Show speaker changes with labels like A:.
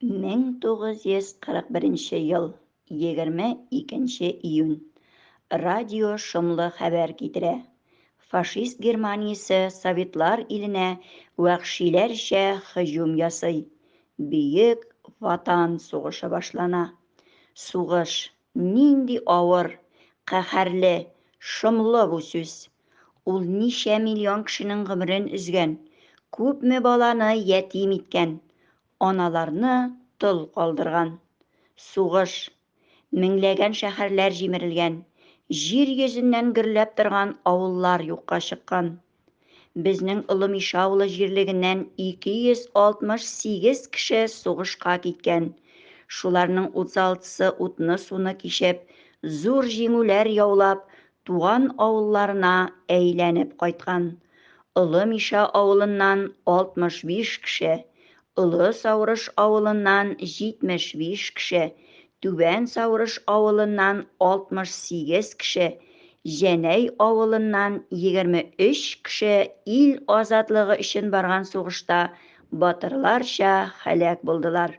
A: 1941 ел 22 июнь. Радио шомлы хәбәр китерә. Фашист Германиясе Советлар иленә вәхшиләрчә һөҗүм ясый. Бөек Ватан сугышы башлана. Сугыш, нинди авыр, каһәрле, шомлы бу сүз. Ул ничә миллион кешенең гомерен өзгән, күпме баланы ятим иткән, аналарны тол калдырган. Сугыш, меңләгән шәһәрләр җимерелгән, җир йөзеннән гөрләп торган авыллар юкка чыккан. Безнең Олы Миша авылы җирлегеннән 268 кеше сугышка киткән, шуларның 36-сы утны-суны кичеп, зур җиңүләр яулап, Туган авылларына әйләнеп кайткан Олы Мишә авылыннан 65 кеше, Олы Саурыш авылыннан 75 кеше, Түбән Саурыш авылыннан 68 кеше, Җәнәй авылыннан 23 кеше ил азатлыгы өчен барган сугышта батырларча һәлак булдылар.